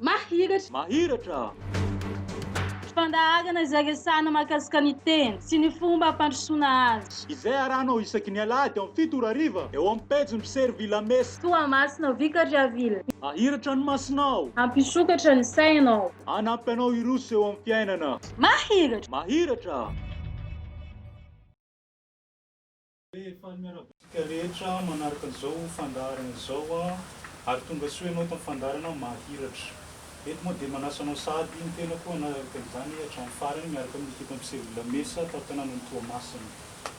Mahiratra! Mahiratra! Fandaharana izay resahana mahakasika ny teny sy ny fomba fandrosoana azy. Izay arahanao isaky ny alahady eo amin'ny fito ora hariva eo amin'ny pejin'ny mpisero Villa Mesa. Toamasina, Vicar Javille. Mahiratra ny masonao. Hampisokatra ny sainao. Hanampy anao hiroso eo amin'ny fiainana. Mahiratra! Mahiratra! Dia faly miarahaba antsika rehetra manaraka izao fandaharana izao ary tongasoa ianao eto amin'ny fandaharana Mahiratra. Eto moa dia manasa anao sahady ny tenako hanaraka izany hatramin'ny farany miaraka amin'ny ekipam-piseho Vilamesa tato tanànan'i Toamasina.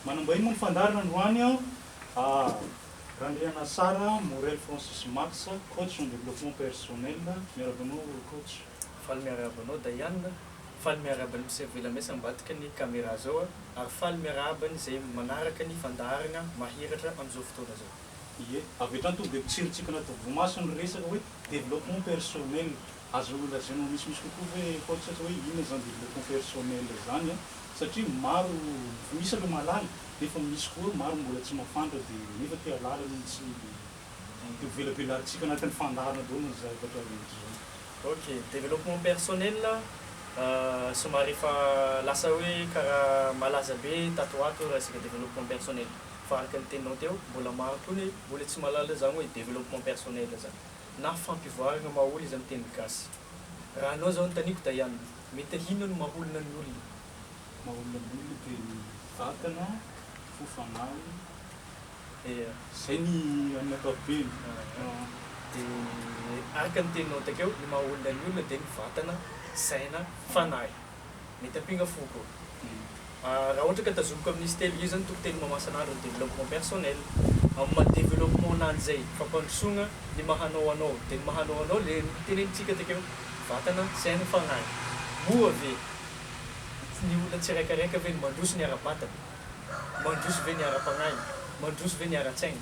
Manam-bahiny moa ny fandaharana androany. Ah! Randrianasara, Morel Francis Max, coach en développement personnel, miarahaba anao coach. Faly miarahaba anao Dayan, faly miarahaba ny mpisera Velamese ambadika ny camera zao a, ary faly miarahaba ny zay manaraka ny fandaharana mahiratra amin'izao fotoana zao. Ie, avy hatrany tonga dia mitsiritsikina toa voamaso ny resaka hoe développement personnel. Azo lazaina ho misimisy kokoa ve Paulus atao hoe inona izany développement personnel izany an? Satria maro, efa misy aloha mahalala, nefa misy koa maro mbola tsy mahafantra dia nefa te hahalala no tsy dia velabelarintsika anatin'ny fandaharana daholo ny zavatra rehetra izany. Ok, développement personnel somary efa lasa hoe karaha malaza be tato ho ato resaka développement personnel fa araka ny teninao teo mbola maro koa ny mbola tsy mahalala izany hoe développement personnel izany. na fampivoaragna maholy izany teny gasy. Raha anao zao antaniako Diana, mety hino ny maholona ny olona? Maholona ny olona dia ny vatana, fo, fanahy, dia zay ny amin'ny ankapobeny. Dia araka ny teninao takeo, ny mahaolona ny olona dia ny vatana, saina, fanahy. Mety ampinga foko. Raha ohatra ka tazomiko amin izy telo io zany toko teny mamasana andro ny développement personnel amin maha développement ananjy zay fampandrosoana ny maha anao anao de ny maha anao anao le notenenintsika takeo vatana saina fagnahy moa ve ny olona tsiraikaraika ve no mandroso ny ara batana mandroso ve ny ara pagnahy mandroso ve ny ara tsaina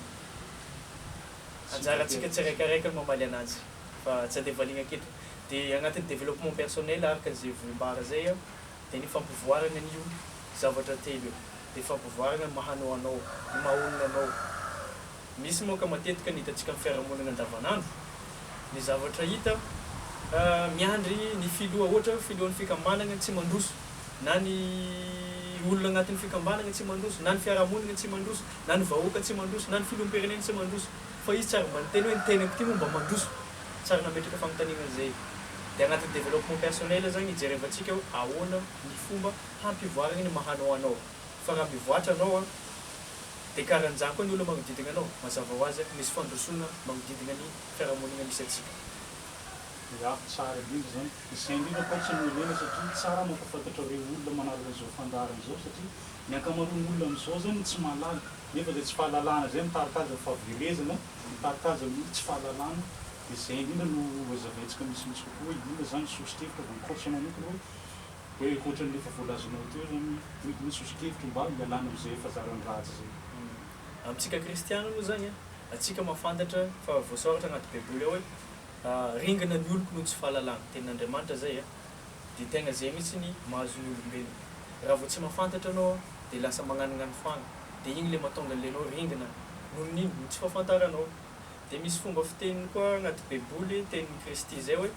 anjarantsika tsiraikaraika ny mamaly ananjy. fa tsy andeha valiana aketo de agnatin'ny développement personnel araka ze voambara zay a de ny fampivoaragna an'io zavatra telo io de fampivoaragna ny maha anao anao, ny maha olona anao, misy moa ka matetika ny hitantsika amin'ny fiarahamonina andavan'andro ny zavatra hita a miandry ny filoha ohatra filohan'ny fikambanagna tsy mandroso na ny olona agnatin'ny fikambanagna tsy mandroso na ny fiarahamonigna tsy mandroso na ny vahoaka tsy mandroso na ny filoham-pirenena tsy mandroso. Fa izy tsy ary mba niteny hoe ny teny ampty moa mba mandroso. Tsy ary nametraka fanontaniana an'izay. Dia anatin'ny développement personnel zany ijerevantsika hoe ahoana ny fomba hampivoaragna ny maha anao anao. Fa raha mivoatra anao an, dia karan'izany koa ny olona magnodidigna anao. Mazava ho azy an, misy fandrosoagna magnodidigna ny fiarahamonigna misy antsika. Ya, tsara indrindra izany. Izay indrindra akory tsy nomenena satria tsara mampahafantatra ireo olona manaraka izao fandaharana izao satria ny ankamaroan'ny olona amin'izao zany tsy mahalala. Nefa zay tsy fahalalana zay mitarika azy fa fahaverezana mitarika azy amin'ny tsy fahalalana de zay indrindra no hazavaintsika misimisy kokoa hoe inona zany soso-kevitra vao mikotrika manontolo hoe hoe ohatran'le efa voalazanao teo zany hoe inona soso-kevitra mba hialana am'zay efa zarany ratsy zay. Amintsika kristiana moa zany a, antsika mahafantatra fa voasoratra anaty baiboly ao hoe ringana ny oloko noho ny tsy fahalalana, tenin'Andriamanitra zay a. de tegna zay mitsy ny mahazo ny olombelona raha vao tsy mafantatra anao de lasa magnanognano fagna de igny le matonga anle anao ringina noho ny ino noho tsy fafantaranao de misy fomba fiteniny koa agnaty baiboly teniny kristy zay hoe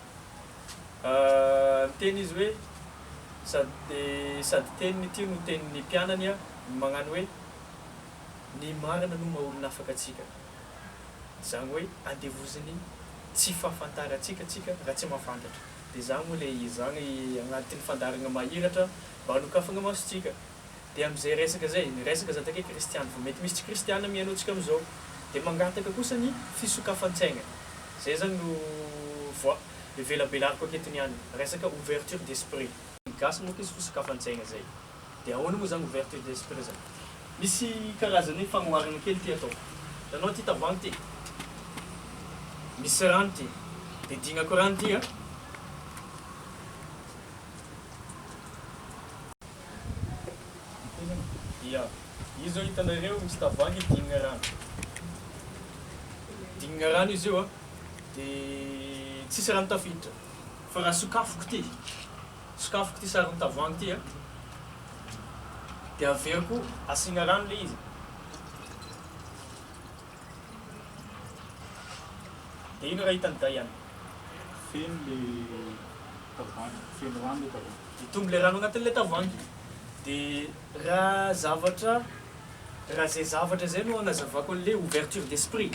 miteny izy hoe sady sady teniny ity no teniny mpianany a magnano hoe ny marina no maha olona afaka atsika zany hoe andevoziny tsy fafantarantsika tsika raha tsy mafantatra. Dia izany moa ilay izy izany agnatin'ny fandaharana mahiratra mba hanokafagna masontsika. Dia amin'izay resaka izay, ny resaka za takaiky kristiana, vao mety misy tsy kristiana mihaino antsika amin'izao. Dia mangataka kosa ny fisokafan-tsaigna. Izay zany no voa evelabelariko aketo niany, resaka ouverture d'esprit. Ny gasy moa koa izy fisokafan-tsaigna izay. Dia ahoana moa izany ouverture d'esprit izany? Misy karazana hoe fanoharana kely ity ataoko. Hitanao ity tavoahangy ity? Misy rano ity. Dia dinako rano ity an. Ia. Io izao hitanareo misy tavoahangy dinina rano. Dinina rano izy io an. Dia tsisy rano tafiditra. Fa raha sokafiko ity. Sokafiko ity saron'ny tavoahangy ity a. Dia averiko asiana rano ilay izy. Dia iny raha hitan'i Diana. Feno ilay tavoahangy, feno rano ilay tavoahangy. Hitombo ilay rano anatin'ilay tavoahangy. Dia raha zavatra, raha izay zavatra izay no hanazavako an'ilay ouverture d'esprit.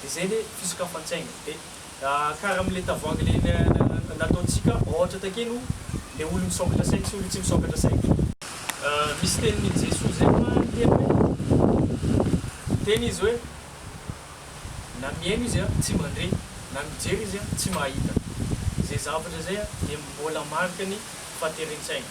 Dia izay le fisokafan-tsaina. Dia karaha amin'ilay tavoahangy le nataontsika ohatra takeny o, le olo misokatra saina sy olo tsy misokatra saina. Misy tenin'i Jesoa zay fa niteny hoe, niteny Izy hoe, na mihaino izy an, tsy mandre, na mijery izy an, tsy mahita. Izay zavatra izay an, dia mbola mariky ny fahateren-tsaina.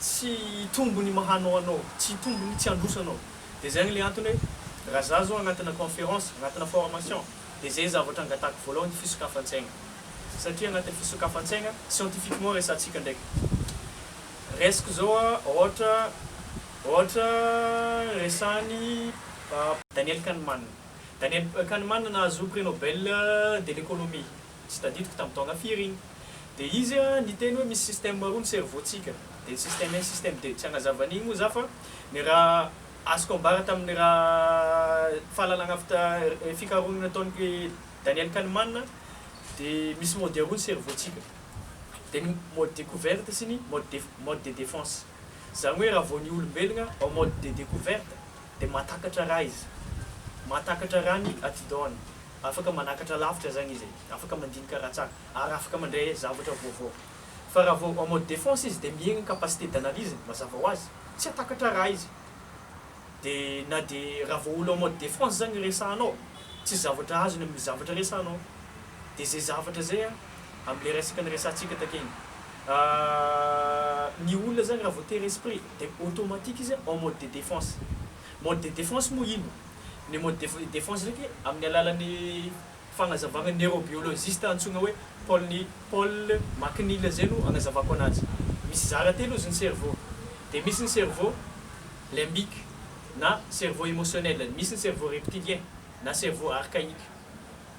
Tsy hitombo ny mahanao anao, tsy hitombo ny tsy handroso anao. Dia zay le antony hoe raha za zao agnatina conférence, agnatina formation, dia zay zavatra angatahako voalohany fisokafan-tsaigna. Satria agnatin'ny fisokafan-tsaigna, scientifiquement resahantsika ndraiky. Raisiko zao ôhatra, ôhatra resahan'i Daniel Kahneman. Daniel Kahneman nahazo prix Nobel de l'économie, tsy tadidiko tamin'ny taona firy iny, dia izy niteny hoe misy système roa ny cerveau-tsika, dia ny système un, système deux, tsy hanazava an'iny moa za fa ny raha azoko ambara tamin'ny raha fahalalana avy ta fikarohana nataon'i Daniel Kahneman dia misy mode roa ny cerveau-tsika, dia ny mode découverte sy ny mode mode de défense, izany hoe raha vao ny olombelona en mode de découverte dia mahatakatra raha izy, mahatakatra raha ny atidohany, Afaka manakatra lavitra zany izy e, afaka mandinika raha tsara, ary afaka mandray zavatra vaovao. Fa raha vao en mode défense izy dia mihena ny capacité d'analyse-ny, mazava ho azy, tsy hatakatra raha izy. Dia na dia raha vao olo en mode défense zany resahanao, tsisy zavatra azony amin'ny zavatra resahanao. Dia zay zavatra zay an, amin'ilay resaka niresahantsika takeny. Ny olona zany raha vao te-resprix dia automatique izy en mode de défense. Mode de défense moa inona? Ny mode de défense ndraiky amin'ny alalan'ny fagnazavagna neurobiologiste antsoina hoe Paul Ni Paul McNeal zay no agnazavako anazy. Misy zara telo izy ny cerveau. Dia misy ny cerveau limbique na cerveau émotionnel, misy ny cerveau reptilien na cerveau archaïque.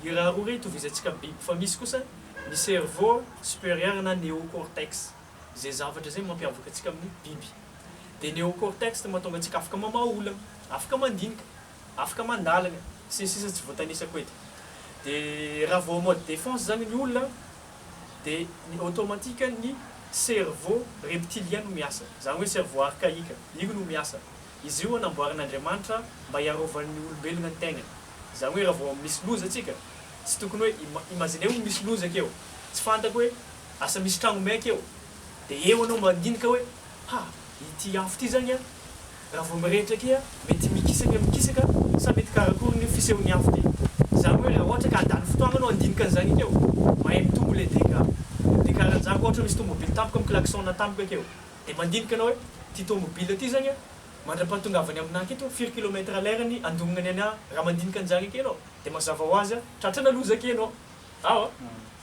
Io raha roa io itovizantsika biby fa misy kosa ny cerveau supérieur na néocortex. Zay zavatra zay mampiavaka antsika amin'ny biby. dia neocortex no mahatonga antsika afaka mamaha olana, afaka mandinika, afaka mandalina, sy ny sisa tsy voatanisako eto. Dia raha vao en mode défense izany ny olona dia ny automatique ny cerveau reptilien no miasa, izany hoe cerveau archaïque, io no miasa. Izy io namboarin'Andriamanitra mba hiarovan'ny olombelona ny tenany. Izany hoe raha vao misy loza tsika, tsy tokony hoe, imaginez-o misy loza akeo, tsy fantako hoe asa misy tragnombe akeo, Dia eo anao mandinika hoe, ha, ity afo ity zany an, raha vao mirehitra aky an, mety mikisaka ny mikisaka sa mety karakory ny fisehon'ny afo ity. Zany hoe raha ohatra ka handany fotoagna anao handinika an'izany aky eo, mahay mitombo ilay dega. Dia karanjako ohatra misy tomobily tampoka mi-klaxon-na tampoka aky eo. Dia mandinika anao hoe, ity tomobily ity zany an, mandra-pahatongavany aminah aky ito, firy kilomètre à l'heure ny andognany anah raha mandinika an'izany aky ianao. Dia mazava ho azy an, tratrana loza aky ianao. Ao an.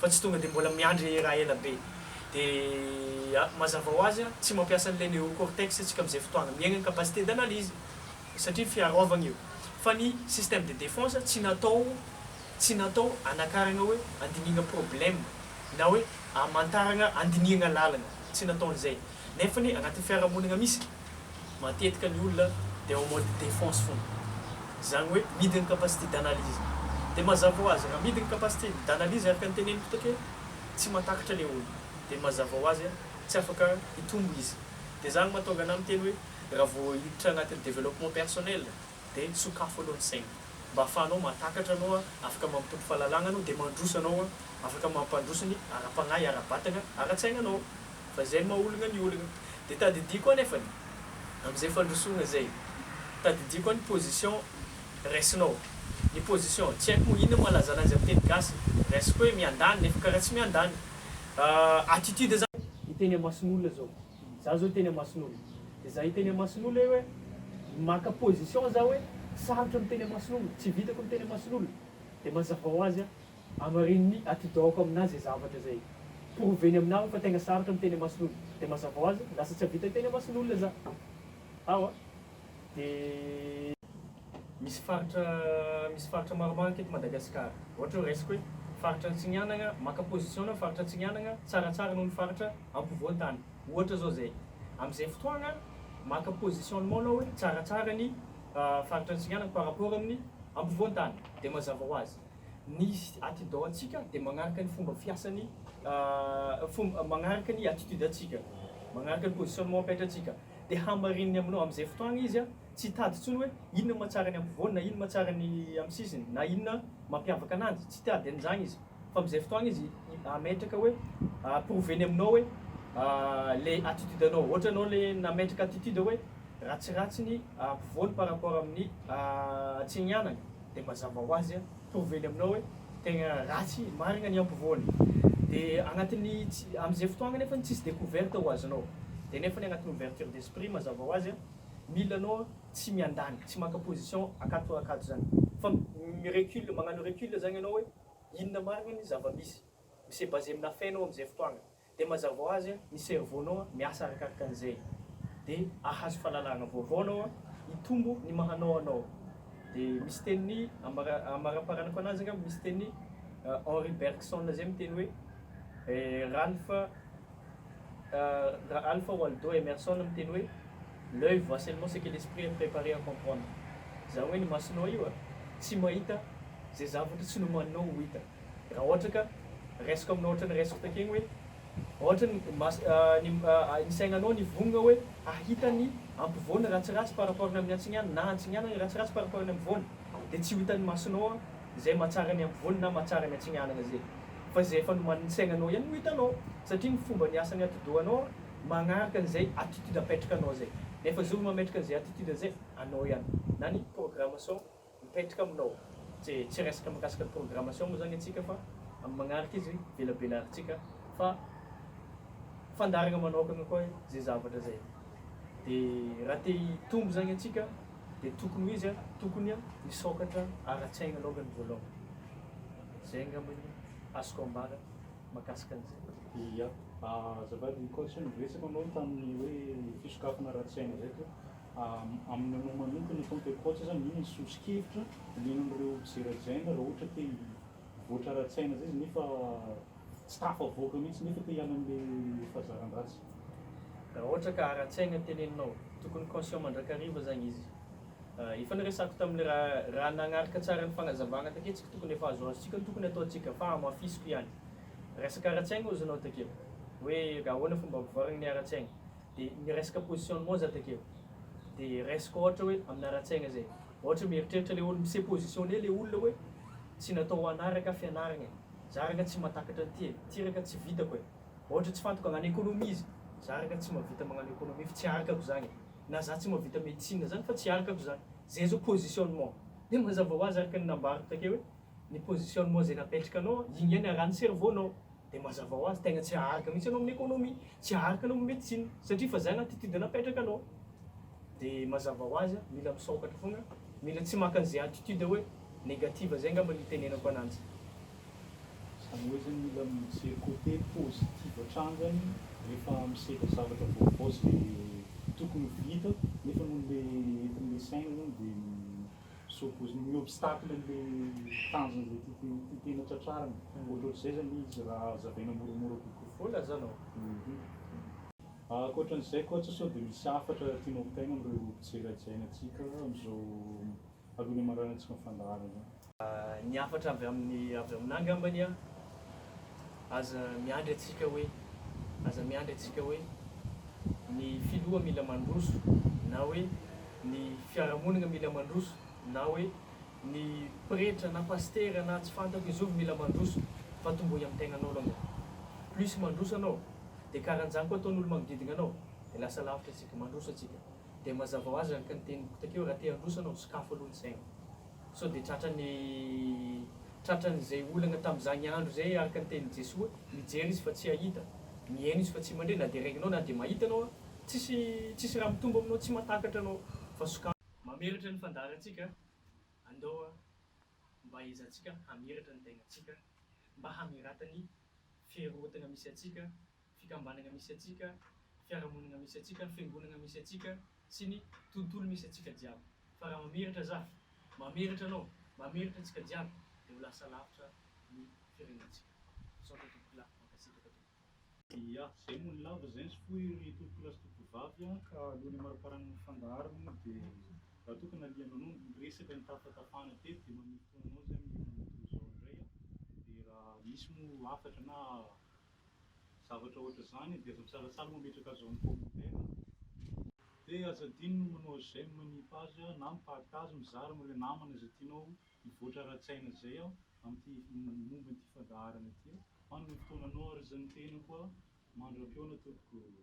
fa tsy tonga de mbola miandry raha ela be dia mazava ho azy tsy mampiasa an'ilay neocortex tsika amzay fotoagna miaigna ny capacité d'analyse satria ny fiarôvagna io fa ny système de défense tsy natao tsy natao anakaragna hoe andinihagna problème na hoe amantaragna andinihagna lalagna tsy natao an'izay nefany agnatin'ny fiarahamonigna misy Matetika ny olona dia en mode défense fona. Izany hoe midy ny capacité d'analyse. Dia mazava ho azy, raha midy ny capacité d'analyse araka ny teneniko taty hoe tsy mahatakatra ilay olona. Dia mazava ho azy tsy afaka hitombo izy. Dia izany no mahatonga anà miteny hoe raha vao hiditra anatin'ny développement personnel dia sokafo aloha ny saina. Mba ahafahanao mahatakatra anao afaka mampitombo fahalalagna anao dia mandroso anao afaka mampandroso ny ara-pagnahy, ara-batagna, ara-tsaigna anao. Fa izay maha ologna ny ologna. Dia tadidiako anefany, amin'izay fandrosogna izay, tadidiako ny position raisinao. Ny position, tsy haiko moa inona mahalaza anazy amin'ny teny gasy, raisiko hoe miandany nefa karaha tsy miandany. Attitude zany. Hiteny amason'olona zao. Za zao hiteny amason'olona. Dia za hiteny amason'olona eo hoe, maka position za hoe, sarotra miteny amason'olona, tsy vitako miteny amason'olona. Dia mazava ho azy aho. Hamarininy atidohako aminà izay zavatra izay. Prouver-ny aminà hoy fa tegna sarotra miteny amason'olo. Dia mazava ho azy, lasa tsy hahavita hiteny amason'olona za. Ao a! Dia. Misy faritra, misy faritra maromaro aty eto Madagasikara. Ohatra hoe raisiko hoe, faritra Antsinianagna, maka position-na faritra Antsinianagna tsaratsara noho ny faritra ampovoan-tany. Ohatra izao izay. Amin'izay fotoagna, maka positionnement anao hoe tsaratsara ny faritra Antsinianagna par rapport amin'ny ampovoan-tany. Dia mazava ho azy. Ny attidon antsika dia magnaraka ny fomba fiasan'ny magnaraka ny attitude antsika, magnaraka ny positionnement apetrantsika. Dia hamarininy aminao amin'izay fotoagna izy an, tsy hitady intsony hoe inona ny mahatsara ny ampovoany na inona mahatsara ny amin'ny sisiny na inona mampiavaka ananjy, tsy tiady an'izany izy fa amin'izay fotoagna izy hametraka hoe prouver-ny aminao hoe le attitude anao, ohatra anao le nametraka attitude hoe. ratsiratsy ny ampovoany par rapport amin'ny Atsenianany dia mazava ho azy mitovy eny aminao hoe tegna ratsy marigna ny ampovoany dia agnatin'ny tsy am'zay fotoagna nefany tsisy découverte ho azonao dia nefany agnatin'ny ouverture d'esprit mazava ho azy mila anao tsy miandany tsy maka position akato akato zany fa mi-recule magnano recule zagny anao hoe inona marigna ny zava-misy mi-se baser amina fainao am'zay fotoagna Dia mazava ho azy, ny cerveau-nao miasa arakaraka an'izay. Dia ahazo fahalalana vaovao anao, hitombo ny maha anao anao. Dia misy teny, amaraparanako anazy angamba, misy teny Henri Bergson izay miteny hoe, Ralph Ralph Waldo Emerson miteny hoe, l'oeil voit seulement ce que l'esprit est prepare à comprendre. Izany hoe ny masonao io tsy mahita izay zavatra tsy nomaninao ho hita. Raha ohatra ka raisiko aminao ohatran'ny raisiko takeny hoe ohatran'ny mas ny ny saignanao nivongona hoe hahita ny ampovoany ratsiratsy par rapport ny amin'ny antsigniany na antsigniany ny ratsiratsy par rapport ny ampovoany dia tsy ho hitan'ny masonao an izay mahatsara ny ampovoany na mahatsara ny antsignianana izay fa izay efa nomanin'ny saignanao ihany no hitanao satria ny fomba niasan'ny atidohanao an magnaraka an'izay attitude apetrakanao izay nefa zovy mametraka an'izay attitude izay anao ihany na ny programmation Mipetraka aminao. Tsy resaka mikasika ny programmation moa zany antsika fa amin'ny magnaraka izy velabelarintsika fa fandaharagna manokagna koa zay zavatra zay. De raha te hitombo zany antsika de tokony ho izy a, tokony a misokatra ara-tsaigna alongany voalohany. Zay angamba ny azoko ambara makasika an'izay. Ia, azafady ny coach, niresaka anao tamin'ny hoe fisokafana ara-tsaigna zay teo. Aminy anao manokana efa mipaikopaoka zany inona ny sosokevitra omenan'ireo mpijery azy aina raha ohatra te hivoatra ara-tsaina zay izy nefa tsy tafavoaka mihitsy nefa te hiala amin'ilay fazaran-dratsy? Raha ohatra ka ara-tsaina teneninao, tokony conscient mandrakariva zany izy. Efa niresako tamin'ny raha raha nagnaraka tsara ny fagnazavagna takeo tsika tokony efa azoazotsika ny tokony ataontsika fa hamafisiko ihany. Resaka ara-tsaigna ozinao takeo hoe ahoana fomba ampivoaragna ny ara-tsaigna. De ny resaka position ny moa za takeo de resaka ohatra hoe amina ara-tsaigna zay ohatra hoe mieritreritra le olo mi-se positionner le olona hoe tsy natao ho ana raka fianaragna e za raka tsy matakatra an'ty e ty raka tsy vitako e ohatra tsy fantako agnano economie izy za raka tsy mavita magnano economie fa tsy arakako zagny e na za tsy mavita medecine zany fa tsy arakako zany zay zao positionnement de mazava hoazy araka ny nambarako takeo hoe ny positionnement zay napetrakanao igny ihany arahan'ny cerveau-nao Dia mazava ho azy tegna tsy aharaka mihitsy anao amin'ny économie, tsy aharaka anao amin'ny médecine satria fa zay latitude napetraka anao. Dia mazava ho azy a, mila misôkatra foagna, mila tsy maka an'izay attitude hoe negative zay angamba no itenenako ananjy. Zany hoe zany mila mijery côté positif hatrany zany rehefa misedra zavatra vaovao zay tokony ho vita nefa noho le etin'le saina zany dia Sao vao ny obstacle le tanjon'izay tia tena tratrarina. Ohatrohatr'izay zany izy raha hazavaina moramora kokoa. Hoy Lazana ô. Ankoatran'izay coach sao dia misy hafatra tianao hotaina amin'ireo mpijery hajaina antsika amin'izao alohan'ny hamaranantsika ny fandaharana izao? Ny hafatra avy amin'ny avy aminà angambany an! Aza miandry antsika hoe, aza miandry antsika hoe, ny filoha mila mandroso na hoe, ny fiarahamonina mila mandroso na hoe ny pretra na pasitera na tsy fantako ny zovy mila mandroso fa tombohy amin'ny tegnanao aloha nga plus mandroso anao dia karanjany koa ataon'olo magnodidina anao dia lasa lavitra antsika mandroso antsika dia mazava ho azy araka ny teniko takeo raha te handroso anao sokafo aloha ny saina sao dia tratran'ny tratran'izay olagna tamin'izagny andro zay araka ny tenin'i Jesoa mijery izy fa tsy hahita miheno izy fa tsy mandre na dia regninao na dia mahita anao Tsisy tsisy raha mitombo aminao tsy matakatra anao fa sokafy. Mamiratra ny fandaharantsika Andao a mba hiezahantsika hamiratra ny tegnantsika Mba hamiratan'ny fiherorotagna misy antsika Fikambanagna misy antsika Fiarahamonigna misy antsika Fiangonagna misy antsika Sy ny tontolo misy antsika jiaby Fa raha mamiratra zah Mamiratra anao Mamiratra antsika jiaby Dia ho lasa lavitra ny firenentsika Misaotra Tompokolahy Mankasitraka Tompoko. Ia, zay moa ny lava zay nzy foy ry tompokolahy sy tompokovavy a! Ka aloha ny hamariparana ny fandaharo moa dia raha toa ka nalianao noho ny resaka nitafatafana teto dia manomboka ho anao zay amin'ny andro toa izao indray a! Dia raha misy moa hafatra na zavatra ohatr'izany dia aza misalatsala mametraka azy ao amin'ny commentaire a! Dia aza adino ny manao j'aime ny page na mi-partage, mizara amin'ireo namana izay tianao Mivoatra ara-tsaina izay aho amin'ity momba ity fandaharana ity aho. Manana fotoana anao ary izay ny tenako aho mandram-pihaona tompoko.